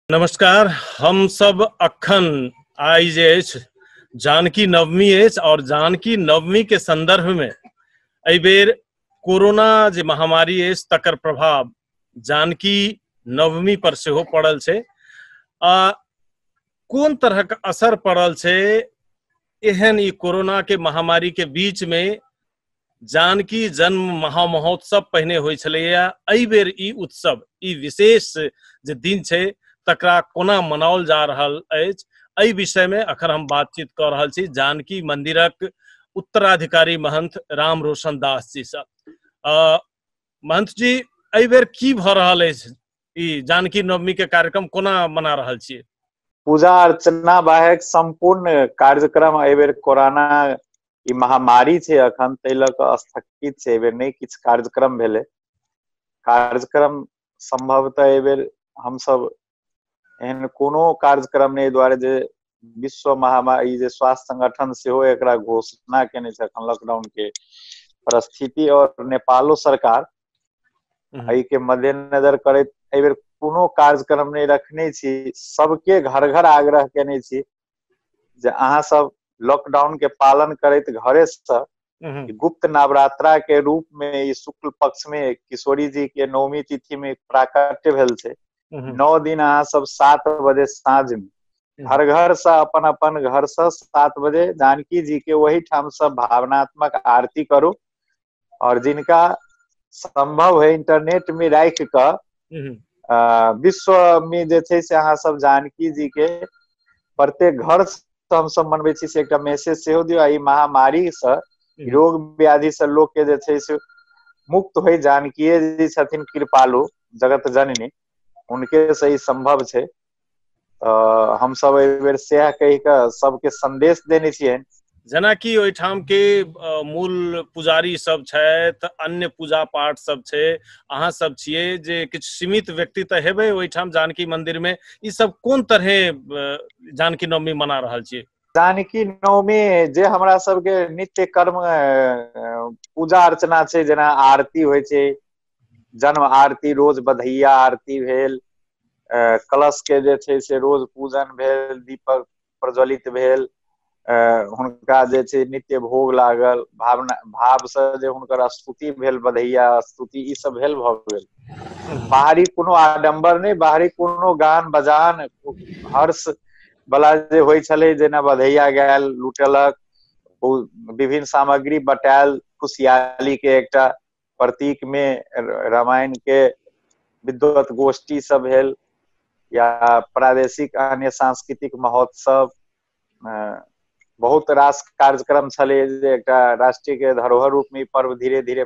नमस्कार हम सब अखन आइ जे अछि जानकी नवमी अछि और जानकी नवमी के संदर्भ में एहि बेर कोरोना जे महामारी अछि तकर प्रभाव जानकी नवमी पर सेहो पड़ल छै आ कोन तरहक असर पड़ल छै एहन ई कोरोना के महामारी के बीच में जानकी जन्म महामहोत्सव पहिने होइ छलैया एहि बेर ई उत्सव ई विशेष जे दिन छै तकरा कोना मनाओल जा रहल अछि एहि विषय में अखन हम बातचीत कऽ रहल छी जानकी मंदिरक उत्तराधिकारी महंत राम रोशन दास जी से महंत जी एहि बेर की भऽ रहल अछि ई जानकी नवमी के कार्यक्रम कोना मना रहल छियै पूजा अर्चना बाहेक सम्पूर्ण कार्यक्रम एहि बेर कोरोना ई महामारी छै अखन ताहि लऽ कऽ स्थगित छै एहिबेर नहि किछु कार्यक्रम भेलै कार्यक्रम सम्भवतः एहिबेर हमसभ एहन कोनो कार्यक्रम नहि दुआरे जे विश्व महामारी जे स्वास्थ्य संगठन सेहो एकरा घोषणा केने छै अखन लॉकडाउन के परिस्थिति और नेपालो सरकार एहि के मद्देनजर करैत एहिबेर कोनो कार्यक्रम नहि रखने छी सबके घर घर आग्रह केने छी जे अहाँ सब लॉकडाउन के पालन करैत घरे से हम्म, गुप्त नवरात्रा के रूप में ई शुक्ल पक्ष में किशोरी जी के नवमी तिथि में प्राकट्य भेल छै हम्म, नौ दिन अहाँ सब सात बजे साँझ में हम्म। हर घर से अपन अपन घर से सात बजे जानकी जी के वही ठाम से भावनात्मक आरती करू और जिनका संभव है इंटरनेट में राख क हम्म, आ, विश्व में जे छै से अहाँ सब जानकी जी के प्रत्येक घर से हम सब मनबै छी से एकटा मैसेज सेहो दियौ आ ई महामारी से रोग व्याधि से लोक के जे छै से मुक्त होइ जानकीय जी छथिन कृपालु जगत जननी हुनके से ई संभव छै तऽ हमसभ एहि बेेर सएह कहि कऽ सभके सन्देश देने छियै जेनाकि ओहिठाम के मूल पुजारी सब छथि अन्य पूजा पाठ सब छै अहाँ सब छियै जे किछु सीमित व्यक्ति तऽ हेबै ओहिठाम जानकी मंदिर मे ई सब कोन तरहे जानकी नवमी मना रहल छियै जानकी नवमी जे हमरा सबके नित्य कर्म पूजा अर्चना छै जेना आरती होइ छै जन्म आरती रोज बधैया आरती भेल कलश के जे छै से रोज पूजन भेल दीपक प्रज्वलित भेल हुनका जे छै नित्य भोग लागल भावना भाव से जे हुनकर स्तुति भेल बधैया स्तुति ई सब भेल भऽ गेल बाहरी कोनो आडम्बर नहि बाहरी कोनो गान बजान हर्ष बला जे होइ छलै जेना बधैया गायल लुटेलक विभिन्न सामग्री बटायल खुशियाली के एकटा प्रतीक में रामायण के विद्वत गोष्ठी सब भेल या प्रादेशिक अन्य सांस्कृतिक महोत्सव बहुत रास कार्यक्रम छलै जे एकटा राष्ट्रीय के धरोहर रूप में पर्व धीरे धीरे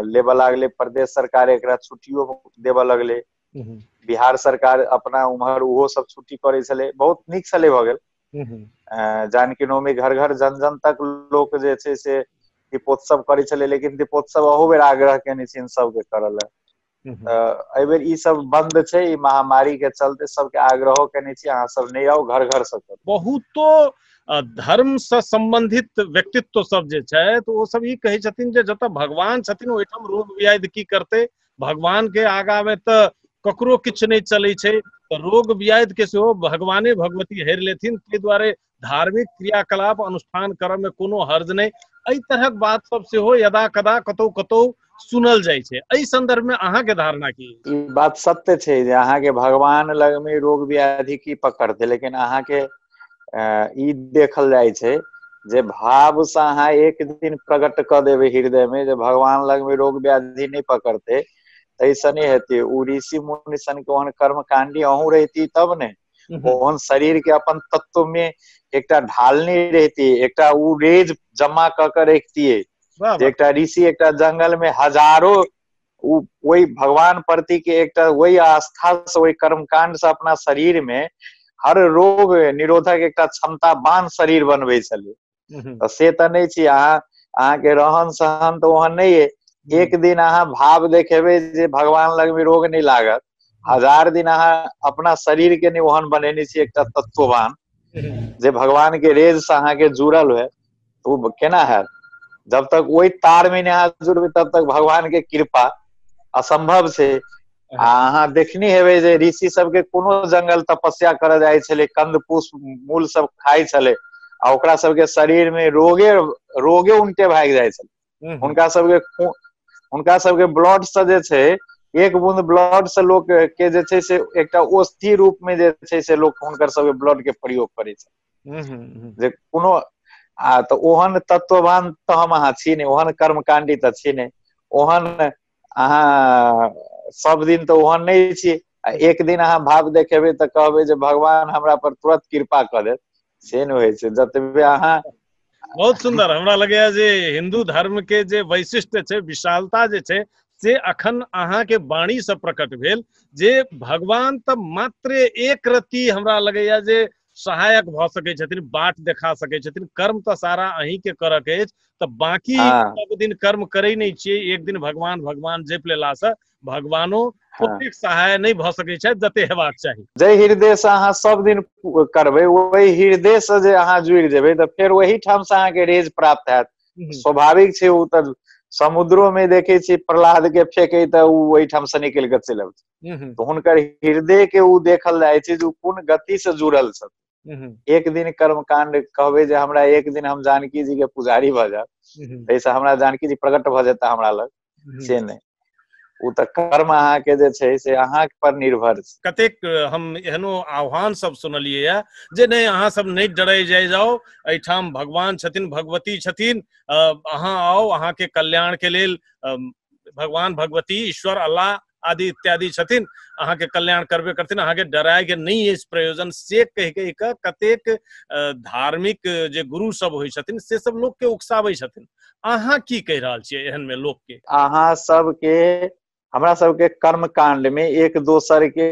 लेबऽ लागले प्रदेश सरकार एकरा छुट्टियो देबऽ लगले बिहार सरकार अपना उम्हर ओहो सब छुट्टी करे छले बहुत निक छले भऽ गेल जान कि नौमी घर घर जन जन तक लोक जे छै से दीपोत्सव करै छलै लेकिन दीपोत्सव अहू बेर आग्रह केने छियनि सबके करऽ लए एहि बेर ई सब बंद छै ई महामारी के चलते सबके आग्रहो केने छी अहाँ सब नहि आउ घर घर से करू बहुतो धर्म से संबंधित व्यक्तित्व सब जे छथि ओ सब ई कहै छथिन जे जतऽ भगवान छथिन ओहिठाम रोग व्याध की करते भगवान के आगा में तो ककरो किछु नहीं चले छै तो रोग व्याध के सेहो भगवाने भगवती हरि लेथिन ताहि दुआरे धार्मिक क्रियाकलाप अनुष्ठान करऽ में कोनो हर्ज नहीं एहि तरहक बात सब सेहो यदा कदा कतौ कतौ सुनल जाइ छै एहि संदर्भ में अहाँ के धारणा की ई बात सत्य छै जे अहाँके भगवान लगमे रोग व्याधि की पकड़तै लेकिन अहाँके ई देखल जाइ छै जे भाव से अहाँ एक दिन प्रकट कऽ देबै हृदय मे जे भगवान लग मे रोग व्याधि नहि पकड़तै तैसँ नहि हेतै ओ ऋषि मुनि सन के ओहन कर्म काण्डी अहूँ रहिती तब ने ओहन शरीर के अपन तत्व मे एकटा ढालने रहती एकटा ओ रेज जमा कऽ के रखतियै एकटा ऋषि एकटा जंगल मे हजारो ओ ओहि भगवान प्रति के एकटा ओहि आस्था से ओहि कर्मकांड से अपना शरीर में हर रोग निरोधक एकटा क्षमता बान शरीर बनबै छलै हम्म। तऽ से तऽ नहि छी अहाँ अहाँके रहन सहन तऽ ओहन नहि अइ हम्म। एक दिन अहाँ भाव देखेबै जे भगवान लग में रोग नहि लागत हजार दिन अहाँ अपना शरीर के नहि ओहन बनेने छी एकटा तत्ववान जे भगवान के रेज से अहाँके जुड़ल हुए ओ केना हयत जब तक ओहि तार मे नहि हाथ जोड़बै तब तक भगवान के कृपा असम्भव छै आ अहाँ देखने हेबै जे ऋषि सबके कोनो जंगल तपस्या करय जाइ छलै कन्द पुष्प मूल सब खाइ छलै आ ओकरा सबके शरीर मे रोगे रोगे उनटे भागि जाइ छलै हूँ हूँ हुनका सबके खून हुनका सबके ब्लड से जे छै एक बूंद ब्लड से लोक के जे छै से एकटा औषधि रूप में जे छै से लोक हुनकर सबके ब्लड के प्रयोग करै छै हूँ हूँ हूँ जे कोनो आ तऽ ओहन तत्ववान तऽ हम अहाँ छी ने ओहन कर्मकाण्डी तऽ छी ने ओहन अहाँ सब दिन तऽ ओहन नहि छी आ एक दिन अहाँ भाव देखेबै तऽ कहबै जे भगवान हमरा पर तुरत कृपा कऽ देत से नहि होइ छै जतबे अहाँ बहुत सुंदर हमरा लगैया जे हिंदू धर्म के जे वैशिष्ट छै विशालता जे छै से अखन अहाँ के वाणी से प्रकट भेल जे भगवान तऽ मात्र एक रति हमरा लगैया जे सहायक भऽ सकै छथिन बाट देखा सकै छथिन कर्म तऽ सारा अहीं के करऽ के अछि तऽ बाकी सब दिन कर्म करै नहि छियै एक दिन भगवान भगवान जपि लेलासँ भगवानो हाँ। ओतेक सहाय नहि भऽ सकैत छथि जते हेबाक चाही जाहि हृदय से अहाँ सब दिन करबै ओहि हृदय से जे अहाँ जुड़ि जेबै तऽ फेर ओहि ठाम से अहाँके रेज प्राप्त हैत हम्म। स्वाभाविक छै ओ तऽ समुद्रो में देखे छी प्रहलाद के फेंके तऽ ओ ओहिठाम से निकलि कऽ चलि अबै हम्म। तऽ हुनकर हृदय के ओ देखल जाइ छै जे ओ कोन गति से जुड़ल छथि हम्म। एक दिन कर्म कांड कहबै जे हमरा एक दिन हम जानकी जी के पुजारी भऽ जायब ताहिसँ हमरा जानकी जी प्रकट भऽ जेता हमरा लग से नहि ओ तऽ कर्म अहाँके जे छै से अहाँ पर निर्भर छै कतेक हम एहनो आह्वान सब सुनलियै या जे नहि अहाँ सब नहि डरै जाइ जाओ एहिठाम भगवान छथिन भगवती छथिन अ, अहाँ आउ अहाँके कल्याण के लेल अम, भगवान भगवती ईश्वर अल्लाह आदि इत्यादि छथिन अहाँ के कल्याण करबे करथिन अहाँ के डराय के नहीं इस प्रयोजन से कह के एक कतेक धार्मिक जे गुरु सब होइ छथिन से सब लोग के उकसाबै छथिन अहाँ की कह रहल छियै एहन में लोग के अहाँ सब के हमरा सब के कर्म कांड में एक दोसर के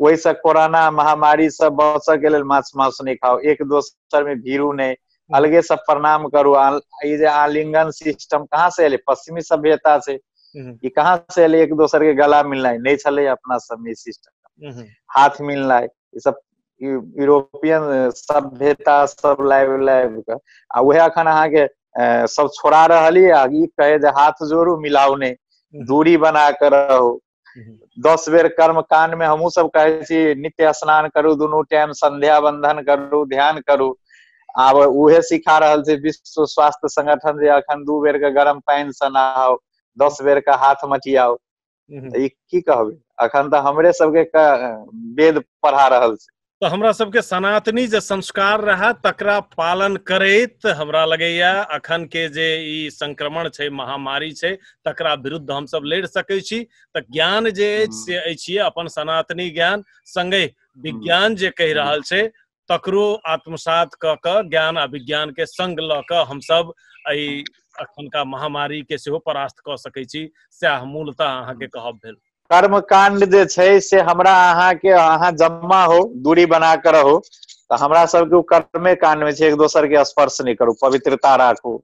ओहिसँ कोरोना महामारी से बचऽ के लेल माछ मांस नहि खाउ एक दोसर में भीड़ू नहि अलगे से प्रणाम करू ई जे आलिंगन सिस्टम कहाँ से एलै पश्चिमी सभ्यता से ई कहाँ से एलै एक दोसर के गला मिलनाइ नहि छलै अपना सबमे सिस्टम हाथ मिलनाइ ई सब यूरोपियन सभ्यता सब लाबि लाबि कऽ आ उएह अखन अहाँके सब छोड़ा रहल यऽ ई कहे जे हाथ जोड़ू मिलाउ नहि दूरी बना कऽ रहू दस बेर कर्म कांड में हमहू सब कहे छी नित्य स्नान करू दुनू टाइम संध्या बंधन करू ध्यान करू आब उहे सिखा रहल छै विश्व स्वास्थ्य संगठन जे अखन दू बेर के गर्म पानि से नहाओ दस बेर के हाथ मटियाओ ई की कहबै अखन तऽ हमरे सबके वेद पढ़ा रहल छै तऽ हमरा सबके सनातनी जे संस्कार रहए तकरा पालन करैत हमरा लगैया अखन के जे ई संक्रमण छै महामारी छै तकरा विरुद्ध हमसब लड़ि सकै छी तऽ ज्ञान जे अछि हम्म। से अछि अपन सनातनी ज्ञान संगे विज्ञान जे कहि रहल छै तकरो आत्मसात कऽ कऽ ज्ञान आ विज्ञान के संग लऽ कऽ हमसब एहि अखनका महामारी के सेहो परास्त कऽ सकै छी सएह मूलतः अहाँके कहब भेल कर्म कांड जे छै से हमरा अहाँ के अहाँ जम्मा हो दूरी बना के रहू तऽ हमरा सबके ओ कर्मे कांड में छै एक दोसर के स्पर्श नहि करू पवित्रता राखू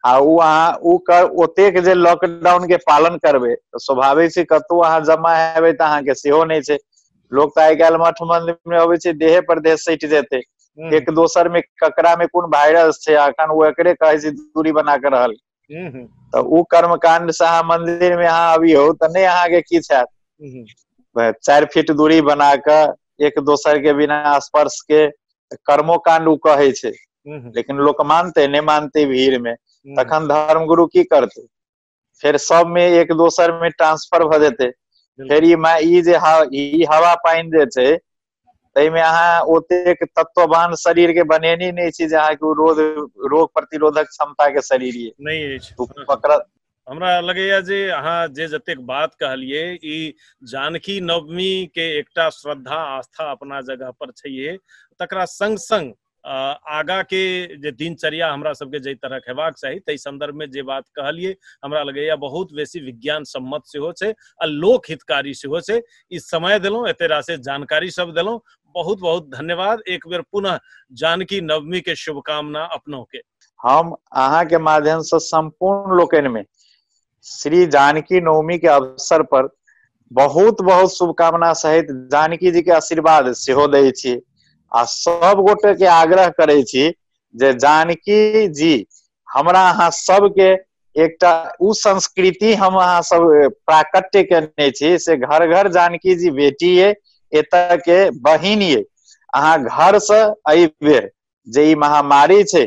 आ ओ अहाँ ओ कर ओतेक जे लॉकडाउन के पालन करबै तऽ स्वाभाविक छै कतहु अहाँ जमा हेबै तऽ अहाँके सेहो नहि छै लोक तऽ आइ काल्हि मठ मंदिर में अबै छै देहे पर देह सटि जेतै एक दोसर में ककरा में कोन वायरस छै अखन ओ एकरे कहै छै दूरी बना के रहल हूँ हूँ तऽ ओ कर्म काण्ड से अहाँ मंदिर मे अहाँ अबियौ तऽ नहि अहाँके किछु हयत हूँ वैह चारि फीट दूरी बना कऽ एक दोसर के बिना स्पर्श के कर्मो काण्ड ओ कहै छै हूँ हूँ लेकिन लोक मानतै नहि मानतै भीड़ मे हूँ तखन धर्म गुरु की करतै फेर सबमे एक दोसर मे ट्रांसफर भऽ जेतै फेर बिल्कुल ई मा ई जे ह ई हवा पानि जे छै ताहिमे अहाँ ओतेक तत्ववान शरीर के बनेने नहि छी जे अहाँके रोग रोग प्रतिरोधक क्षमता के शरीर ये नहि अछि पकड़ हमरा लगैया जे अहाँ जे जतेक बात कहलिए ई जानकी नवमी के एकटा श्रद्धा आस्था अपना जगह पर छैहे तकरा संग संग आगा के जे दिनचर्या हमरा सबके जे तरह हेबाक चाही ताहि संदर्भ में जे बात कहलिए हमरा लगैया बहुत बेसी विज्ञान सम्मत से हो छे आ लोक हितकारी से हो छे ई समय दिलों एते राशि जानकारी सब दिलों बहुत बहुत धन्यवाद एक बेर पुनः जानकी नवमी के शुभकामना अपनों के हम अहा के माध्यम से संपूर्ण लोकन में श्री जानकी नवमी के अवसर पर बहुत बहुत शुभकामना सहित जानकी जी के आशीर्वाद सेहो दै छी आ सब गोटे के आग्रह करै छी जे जानकी जी हमरा अहाँ सबके एकटा उ संस्कृति हम अहाँ सब प्राकट्य केने छी से घर घर जानकी जी बेटी ये एतऽ के बहिन ये अहाँ घर से एहि बेर जे ई महामारी छै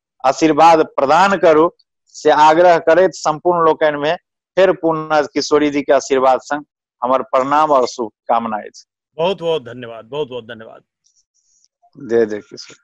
आशीर्वाद प्रदान करू से आग्रह करैत सम्पूर्ण लोकनि में फिर पुनः किशोरी जी के आशीर्वाद संग हमर प्रणाम और शुभकामना अछि बहुत बहुत धन्यवाद बहुत बहुत धन्यवाद जय जय किशोरी